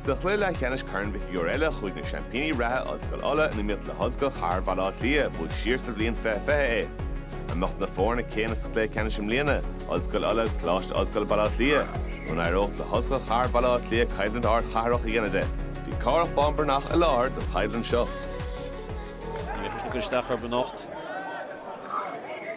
Sa chluiche leathcheannais Corn Mhic Shigiúir eile chuaigh na seaimpíní reatha, Ollscoil Uladh, in iomaíocht le hOllscoil Chathair Bhaile Átha Cliath, a bhuaigh siar sa bhliain 2020 é. An mbeadh na foirne céanna sa chluiche ceannais i mbliana, Ollscoil Uladh agus Coláiste Ollscoile Baile Átha Cliath. Nó an éireodh le hOllscoil Chathair Bhaile Átha Cliath coimhlint ardchathrach a dhéanamh de, Bhí Cárthach Bán Breathnach i láthair don choimhlint seo. Níor chuir sé isteach orthu anocht.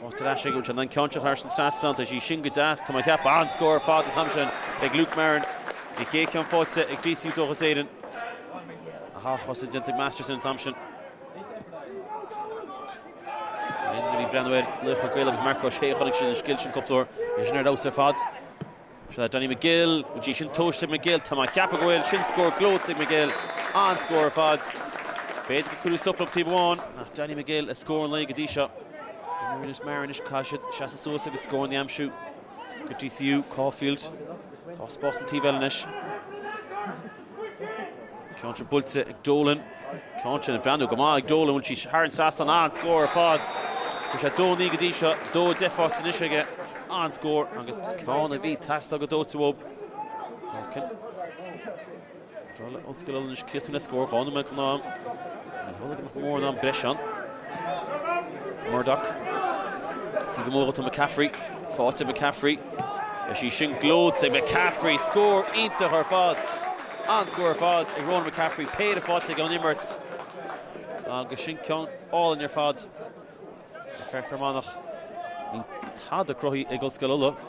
Faighte ar ais aige, an ceann seo thar an trasnán, is í sin go deas. Tá mé ag ceapadh an-scór ar fad an t-am sin ag Luke Marren an chéad cheann faighte ag DCU Dóchas Éireann. Aha, chosa déanta ag Masterson an t-am sin. Éinne a bhí ag breathnú ar Laochra Gael agus Marc Ó Sé chonaic siad an scil sin cúpla uair. Is sin ar fheabhas ar fad. Seo Danny Magill, bhfuil sí sin tomhaiste ag Magill, tá mé a cheapadh go bhfuil, sin scór gleoite ag Magill, an-scór ar fad. B'fhéidir gur cuireadh stop leo taobh amháin ach Danny Magill le scór an lae go dtí seo. Imreoirí móra anois, caithfidh siad seasamh suas agus scóranna a aimsiú do DCU, Caulfield, tá spás an taobh eile anois. Ceann seo buailte ag Dolan. Ceann seo ag breathnú go maith ag Dolan. Téann sí thar an trasnán an-scór ar fad. Bhí sé 2-9 go dtí seo, 2-10 faighte anois aige. An-scór agus ceann a bhí ag teastáil go dóite uathu. McElholm. Ba bhreá le hOllscoil Uladh anois críochnú le scór dhá nóiméad chun am. Ní tháinig nach mór an am breise ann. Murdock. Taobh amuigh dó tá McCaffrey. Faighte ag McCaffrey. Is í sin gleoite ag McCaffrey. Scór iontach ar fad. An-scór ar fad ag Ronan McCaffrey. Péire faighte aige ón imirt. Agus sin ceann álainn ar fad ag fear Fhear Manach. Bhí tada cruthaithe ag Ollscoil Uladh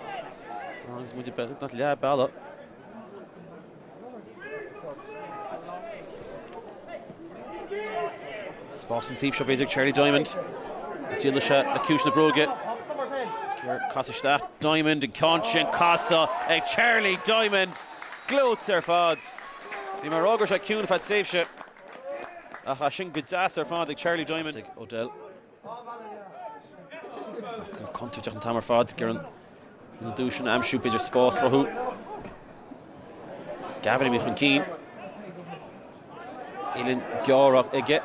agus muid beagnach leath bealaigh. Spás an taobh seo b'fhéidir, Charlie Diamond an dtriailfidh sé le ciumhais na bróige. Í a chasadh isteach, Diamond an ceann sin ag casadh ag Charlie Diamond. Gleoite ar fad. Bhí mé ag rá go raibh sé ciúin ar feadh tréimhse ach tá sin go deas ar fad ag Charlie Diamond. Faighte ag O'Dell. Contúirteach an t-am ar fad ag iarraidh an lúb sin a aimsiú b'fhéidir spás a chruthú Gavin a bhí chun cinn. Uillinn ghéar aige.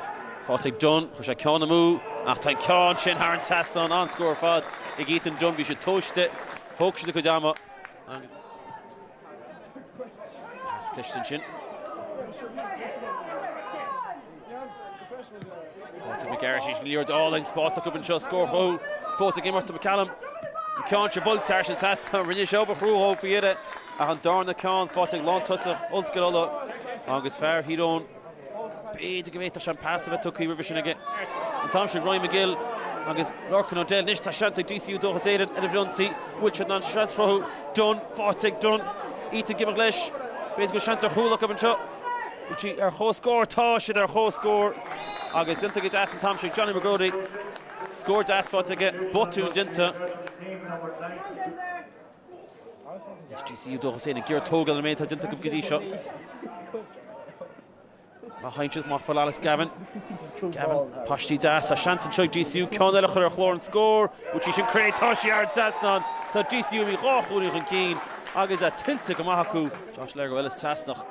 Faighte ag Dunne, chuir sé ceann amú ach tá an ceann sin thar an trasnán an-scór ar fad ag Ethan Dunne, bhí siad tomhaiste, thóg siad a gcuid ama agus. Pas cliste ansin. Faighte ag McGarrity is í sin liathróid álainn spás acu anseo scór a chruthú fós ag imeacht tá McElholm. An ceann seo buailte thar an trasnán rinne sé obair chrua dhó faoi dheireadh ach an darna ceann faighte ag lántosaí Ollscoil Uladh agus fear Thír Eoghain. B'fhéidir go bhféadfadh sé an pas a bheith tugtha roimhe sin aige an t-am sin. Roy Magill agus Lorcan O'Dell anois. Tá seans ag DCU Dóchas Éireann ar an bhfrithionsaí. Bhfuil siad in ann seans a chruthú? Dunne, faighte ag Dunne. Ethan ag imeacht leis. B'fhéidir go bhfuil seans ar chúl acu anseo. Bhfuil siad ar chomhscór? Tá siad ar chomhscór agus déanta go deas an t-am sin ag Johnny McGroddy. Scór deas faighte aige. Botún déanta. Is DCU Dóchas Éireann ag iarraidh tógáil ar an méid atá déanta acu go dtí seo. Má chaitheann siad amach fhad le Alex Gavin. Gavin, paistí deas, tá seans anseo ag DCU ceann eile a chur ar chlár an scór. Bhuaigh sí sin Cré, tá sí thar an trasnán. Tá DCU imithe dhá chúilín chun cinn agus é tuillte go maith acu. Sáisléir go bhfuil, is Sasnach.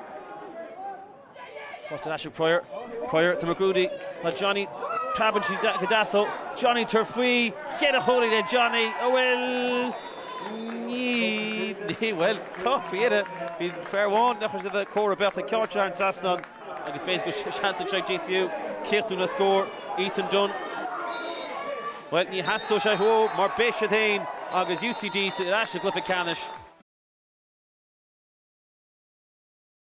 Faighte ar ais ag Prior. Prior, to McGroddy, Tá Johnny, tugann sé go deas dó, Johnny tabhair faoi, cheithre chónaí le Johnny, a bhuel, ní, ní, bhuel, tá, fíona, bhí fear amháin nach raibh sé de chóir a beadh ag ceáirt thar an trasnán agus b'fhéidir go bhfuil seans anseo ag DCU críochnú le scór, Ethan Dunne, bhuel, ní theastóidh sé dhó mar beidh siad féin agus UCD ar ais i gcluiche ceannais.